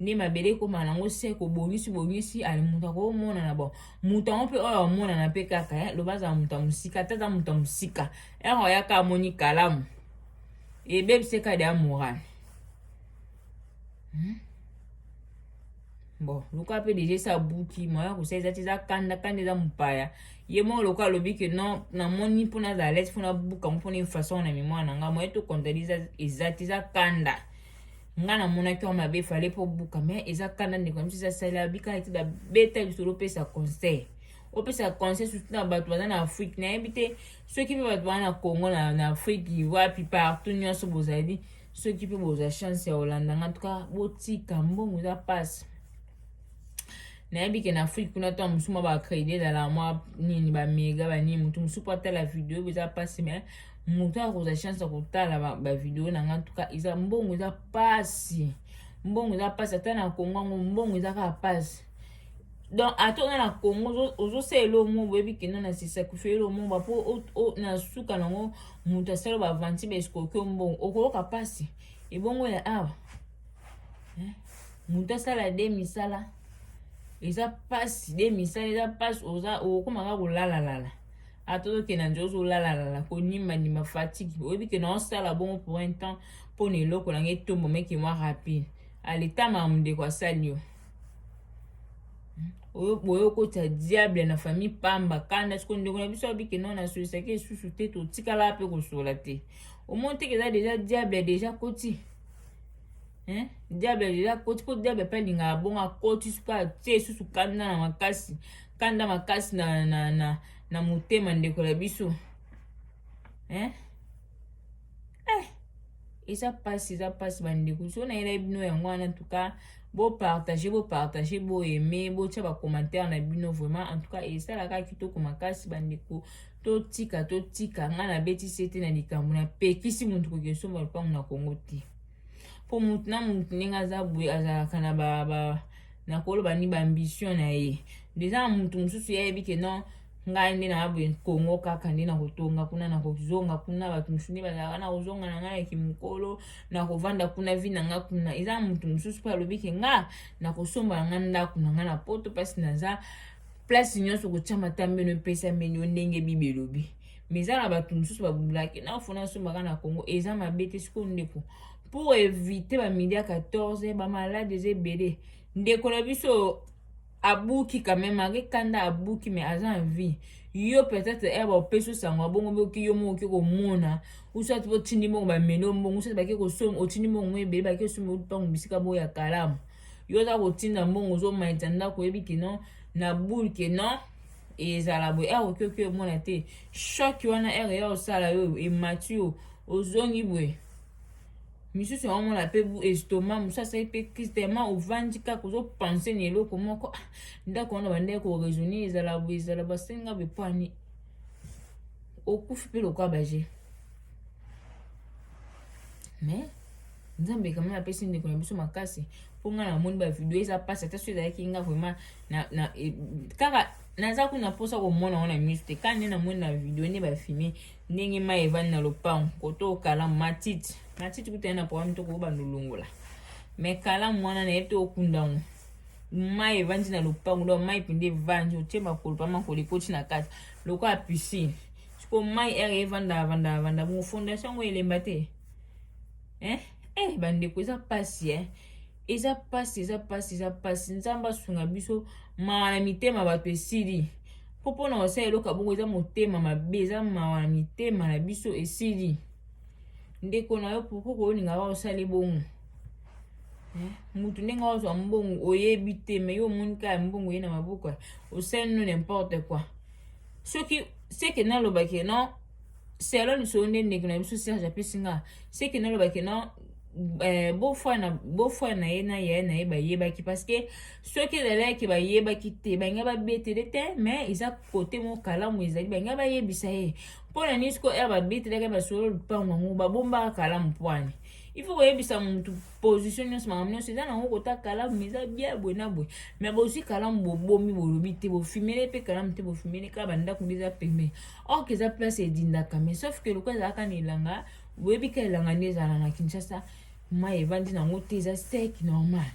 nde mabele ekóma nango seko obongisi bongisi ali moto akomonana bon moto yango mpe oyo amonana mpe kaka eh? loba azala moto ya mosika ata aza moto ya mosika Ero oyaka amoni kalamu ebebisi kadi ya morale hmm? bon luka mpe deja esi abuki moya kosa eza ti eza kanda kanda eza mopaya ye moko loka alobi ke non namoni mpo nazala lete mpo nabuka yango mpo na façon na memoire na ngai moye tokontadi eza ti eza kanda ngai namonaki yango mabe efale mpo buka mai eza kanda ndeko ya mosusu asali abikala ti babeta lisolo opesa conseil opesa conseil surtout na bato baza na afrique nayebi te soki mpe bato baza na congo na, na afrique wapi partout nyonso bozali soki mpe bozwa chance ya kolanda nga tuka botika mbongo eza mpasi nayebi ke na afrique kuna ntango mosusu mwa bacredi ezala mwa nini bamega banini motu mosusu mpo atala video oyo eza mpasi mai motu akozwa chance ya kotala bavideo na nga ntuka eza mbongo eza mpasi mbongo eza mpasi ata na kongo yango mbongo eza kaka mpasi donc ata oza na congo ozosala elo mo boyebi kino na sesacrifie elo mo bapo na suka nango moto asala bavanti baescokio mbongo okoyoka mpasi ebongo ya awa moto asala de misala eza mpasi de misala eza mpasi oza okokoma kaka kolalalala ata ozokenda nje ozolalalala konimanima fatigue oyebi ke na osala bongo pour un temps mpo na eloko na ngai etombo mekimwa rapide aletama mondeko asali yo oyo boye okotisa diable na famille pamba kanda siko ndeko na biso abike nao nasolisaki esusu te totikala mpe kosola te omoni teke eza deja diable deja koti hein? diable deja koti mpo diable mpe alingaka abongo akoti siko atie esusu kanda na makasi kanda makasi na, na, na, na motema ndeko na biso hein? eh, eza mpasi eza mpasi bandeko so nayelai bino yango wana ntuka bopartage bopartage boyeme botya bacommentaire na bino vraiment en tout cas esalaka kitoko makasi bandeko totika totika ngai nabetisi ete na likambo napekisi moto koki osomba lopango na kongo te mpo moto na moto ndenge aza boye azalaka na ba, ba nakoloba ni baambition na ye deja moto mosusu ye ayebi ke non ngai nde naa boye kongo kaka nde nakotonga kuna nakozonga kuna bato mosusu nde bazalaka nakozonga na ngai ya kimokolo nakovanda kuna vi na ngai kuna eza moto mosusu mpe alobi ke nga nakosomba na ngai ndako na ngai na poto mpasi naza place nyonso kotya matambeno epesameli yo ndenge bibi elobi me eza na bato mosusu babulaki nafo nasombaka na kongo eza mabe te sikoyo ndeko pour éviter bamidi ya 14 bamalade eza ebele ndeko na biso abuki quand même malgré kanda abuki mais aza en vie yo peut-être eh ba opesi osango abongo mpe oki yo moko oki komona usati mpe otindi moko bamelo mbongo usati bake kosomba otindi mbongo ngo ebele bake osomba mpango bisika boyo ya kalamu yo oza kotinda mbongo ozomaita ndako oyebi ke non na boule ke non ezala boye ere oki oki omona te choc wana ere ya osala yo emati yo ozongi boye misusu yango mona mpe bu estoma mosusu asali mpe crise tellement ovandi kaka ozopense na eloko moko ah, ndako wana bandaki koraisonne ezala bo ezala basenga bepwani okufi mpe lokola baje mais nzambe kama napesi ndeko na biso makasi mpo ngai namoni bavideo eza mpasi ata so ezalaki nga vraiment e, kaka naza kuna mposa komona ngo na miso te kaka nde namoni na video nde bafilme ndenge mai evandi na lopango koto kalamu matiti matiti kutani na programme to koyoba nolongola me kalamu wana na yebi te okunda yango mai evandi na lopango donc mai mpenza evandi otie makolo mpa makolo ekoti na kati lokola piscine sikoyo mai ere evanda vanda vanda bongo fondation yango elemba te eh? eh bandeko eza mpasi eh? eza mpasi eza mpasi eza mpasi nzambe asunga biso mawa na mitema bato esili mpo mpo na kosala eloko abongo eza motema mabe eza mawa na mitema na biso esili ndeko na yo pourkui koyoninga kaka osali bongo eh, motu ndenge ozwa mbongo oyebi te me yo omoni kaka mbongo ye na maboko osali no nimporte quoi soki seke nalobaki no selon lisolo nde ndeko na biso serge apesi nga seke naloba ke non eh, bofwa na bofwa na ye na yaya na ye bayebaki parce que soki ezalaki bayebaki te balinga babetele te mais eza kote moko kalamu ezali balinga bayebisa ye mpo na nini siko ere babetelaka basolo lupango yango babombaka kalamu pwani il faut koyebisa motu position nyonso makambo nyonso eza nango kota kalamu eza bia boye na boye me bozwi kalamu bobomi bolobi te bofimele mpe kalamu te bofimele kaka bandako nde eza pembeni or que eza place edindaka mais sauf que lokola ezalaka na elanga oyebi ka elanga nde ezala na kinshasa mai evandi nango te eza sek normal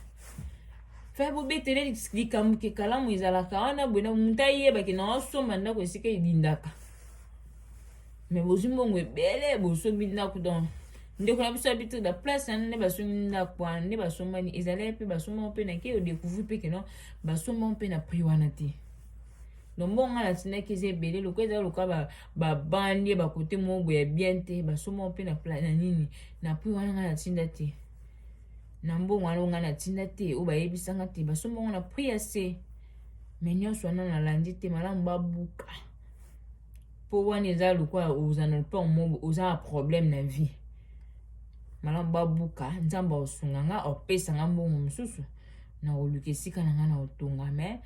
fa bobetele likambo ke kalamu ezalaka wana boye na moto ayebaki na osomba ndako esika edindaka me bozwi mbongo ebele bosombi ndako donc ndeko na biso abiti na place wana nde basombi ndako wana nde basombani ezalaki mpe basombamo mpe na ke odecouvri mpe keno basombamo mpe na prix wana te no mbongo ngai natindaki eza ebele lokola ezali lokola babandi ba bakote moko boye ya bien te basomba mpe na na nini na prix wana ngai natinda te na mbongo wana ngai natinda te oyo bayebisanga te basomba ngo na prix ya se me nyonso wana nalandi te malamu babuka mpo wana eza lokola oza na lopao moko oza na problème na vie malamu babuka nzambe aosunga nga opesa nga mbongo mosusu na koluka esika na nga na kotonga mais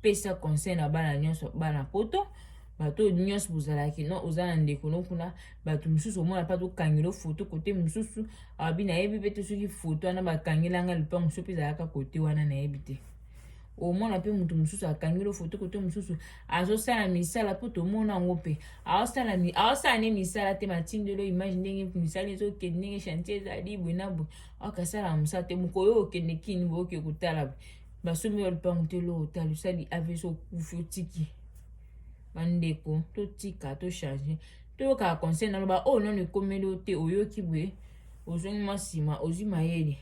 pesa conseil na bana nyonso bana poto bato oyo nyonso bozalaki no oza na ndeko no kuna bato mosusu omona mpa tokangela foto kote mosusu abi nayebi mpe te soki foto wana bakangelanga lopango so mpe ezalaka kote wana nayebi te omona mpe moto mosusu akangeli foto kote mosusu azosala misala mpo tomona yango mpe aosala ne misala te matindelo image ndenge misala ezokende ndenge chantier ezali boye na boye akasala mosala te mokolo oyo okende kini boyoki kotala boye basombi yo lupangu te lo otalisali avc okufi otiki bandeko totika tochange toyokaka conseil naloba oyo oh, nano ekomeli yo te oyoki boye ozongi mwa nsima ozwi mayele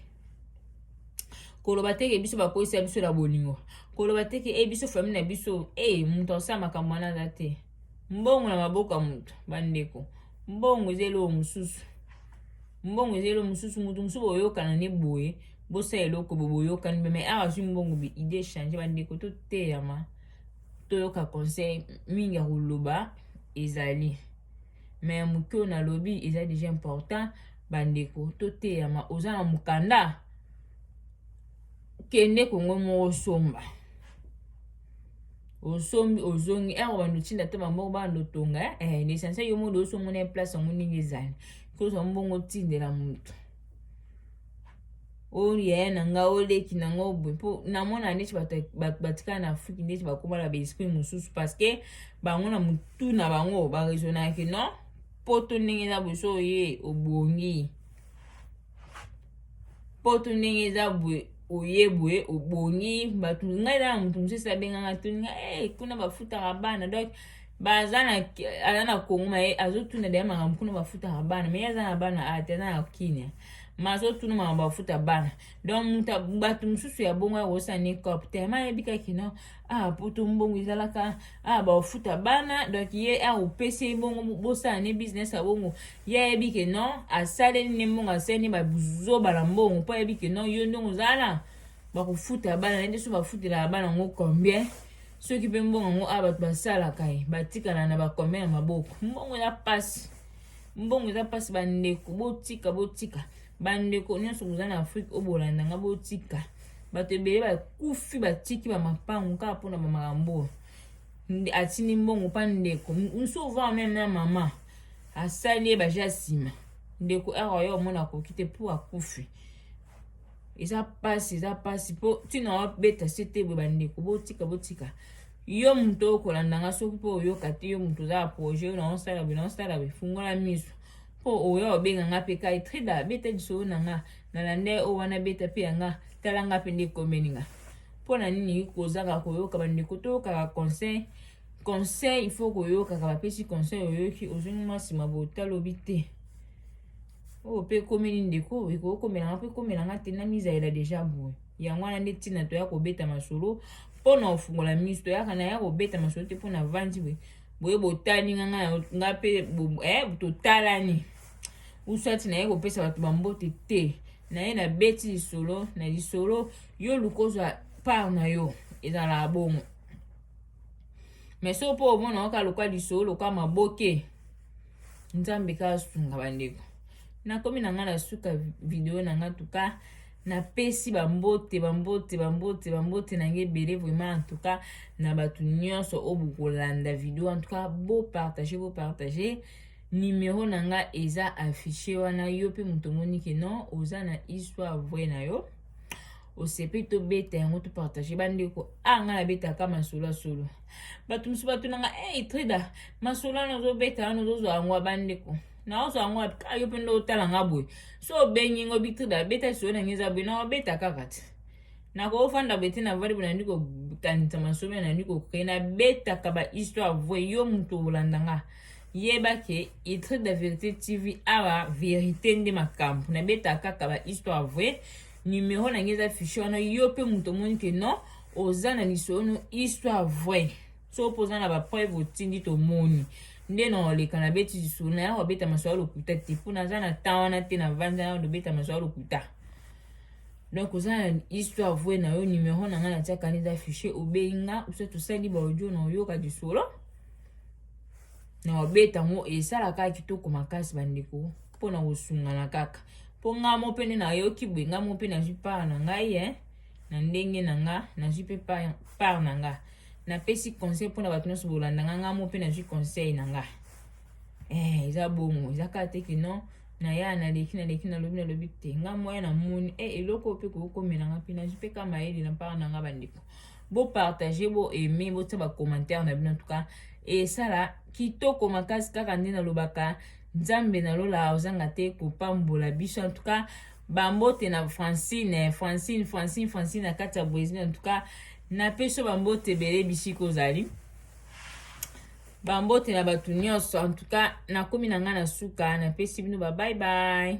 koloba teke biso bakoyisa biso na bolingo koloba teke e biso famille na biso e eh, moto asala makambo wana aza te mbongo na maboko ya moto bandeko mbongo eza eloko mosusu mbongo eza elo mosusu motu mosusu boyokana ne boye bosala eloko bo boyokani mpe mai awa azwi mbongo bi idée change bandeko toteyama toyoka conseil mingi ya koloba ezali mai ya moke oyo nalobi eza deja important bandeko toteyama oza na mokanda kende kongo moko somba osombi ozongi ere eh, obanda otinda ata bamoko banda otonga eh, eh l'essentiel yo mode oso omona place yango ndenge ezali kozwa mbongo otindela moto oyo yaya na nga oyo leki na nga oboye mpo namona neti bato batikala na afrike neti bakomala baesprit mosusu parce que bango na motu na bango baraisonnake non poto ndenge eza boso oye obongi poto ndenge eza boye oye boye obongi bato ngai na moto mosusu abengaka tuni ngai hey, eh, kuna bafutaka bana donc baza na aza na kongo maye azotuna deya makambo kuna bafutaka bana maye aza na bana ate aza na kinia ma azotuna makambo bafuta bana donc moto bato mosusu ya bongo yakosana ni cop tellement ayebi kaki no ah poto mbongo ezalaka ah bafuta bana donc ye akopesa ye bongo bosana ni business ya bongo ye ayebi ke non asaleli nde mbongo asaleli nde bazoba na mbongo mpo ayebi ke non yo ndongo ozala na bakofutela bana na nde so bafutelaka bana yango combien soki mpe mbongo yango a bato basalaka ye batikala na bacombien ya maboko mbongo eza mpasi mbongo eza mpasi bandeko botika botika bandeko nyonso boza na afrike oyo bolanda nga botika bato ebele bakufi batiki bamapango kaka mpona bamakambo oyo atindi mbongo mpa ndeko nso ovaa meme na mama asali ye baje ya nsima ndeko awa yo omona akoki te mpo akufi eza mpasi eza mpasi mpo ntina wabeta se te boye bandeko botika botika yo moto okolanda nga soki mpo oyoka te yo moto oza ya projet oyo naosala boye naosala boye fungola miso mpo oyo obenga nga mpe kai trida beta lisolo na nga nalanda ye oyo wana beta mpe ya nga tala nga mpe nde ekomeli nga mpo na nini kozanga koyoka bandeko toyokaka conseil conseil il faut koyokaka bapesi conseil oyoki ozongi mwasi mabota alobi te oyo mpe ekomeli ndeko ekoki komelanga mpe ekomelanga te na mizalela deja boye yango wana nde ntina toya kobeta masolo mpo na kofungola miso toyaka na ya kobeta masolo te mpo na vandi boye boye botali nga nga nga mpe eh, totalani usati naye kopesa bato bambote te naye nabeti lisolo na lisolo yo luka ozwa part na yo ezalaka bongo me so mpo omona oka loka lisolo loka maboke nzambe ka asunga bandeko nakomi na ngai na suka video na ngai tuka napesi bambote bambote bambote bambote na ngai ebele vraiment antuka na bato nyonso oyo bokolanda video antuka bopartage bopartage nimero na ngai eza affiche wana yo mpe moto omoni ke non oza na histoire vrai na yo osepe tobeta yango topartage bandeko a ah, ngai nabetaka masolo ya solo bato mosusu batunanga e hey, trida masolo wana ozobeta wana ozozwa yango ya bandeko naozwa yango wapi kaka yo mpe nde otala nga boye so obengi ngo bitrida beta lisolo na ngai eza boye nakobeta kaka te nakofanda boye te navandi boye nandi kokanisa masolo nandi kokreye nabetaka bahistoire voye yo moto olanda nga yeba ke itre de verite tv awa verite nde makambo nabetaka kaka ba histoire vrai numero na ngai eza fiche wana yo mpe moto omoni ke non oza na lisolo histoire vrai so mpo oza na bapreuve otindi tomoni nde na oleka na beti lisolo na yango abeta masolo lokuta te mpo naza na temps wana te na vanza yango dobeta masolo lokuta donc oza na histoire vrai na yo numero na ngai natiaka nde eza fiche obengi nga osa tosali baaudio na oyoka lisolo na wabeta yango esala kaka kitoko makasi bandeko mpo na kosungana kaka mpo nga mo mpe nde nayoki boye nga mo mpe nazwi part na ngai eh? na ndenge na nga nazwi mpe part na nga napesi conseil mpo na bato nyonso bolanda nga nga mo mpe nazwi conseil na nga eh, eza bongo eza kaka te kino na ya naleki naleki nalobi nalobi te nga moya namoni e eh, eloko mpe kokomelanga mpe nazwi mpe ka mayele na part na nga bandeko bo partager bo aimer botia ba commentaire na bino en tout cas esala kitoko makasi kaka nde nalobaka nzambe na lola ozanga te kopambola biso en tout cas bambote na francine francine francine francine na kati ya brésil en tout cas napesi yo bambote ebele bisika ozali bambote na bato nyonso en tout cas nakomi na ngai na suka napesi bino babai bai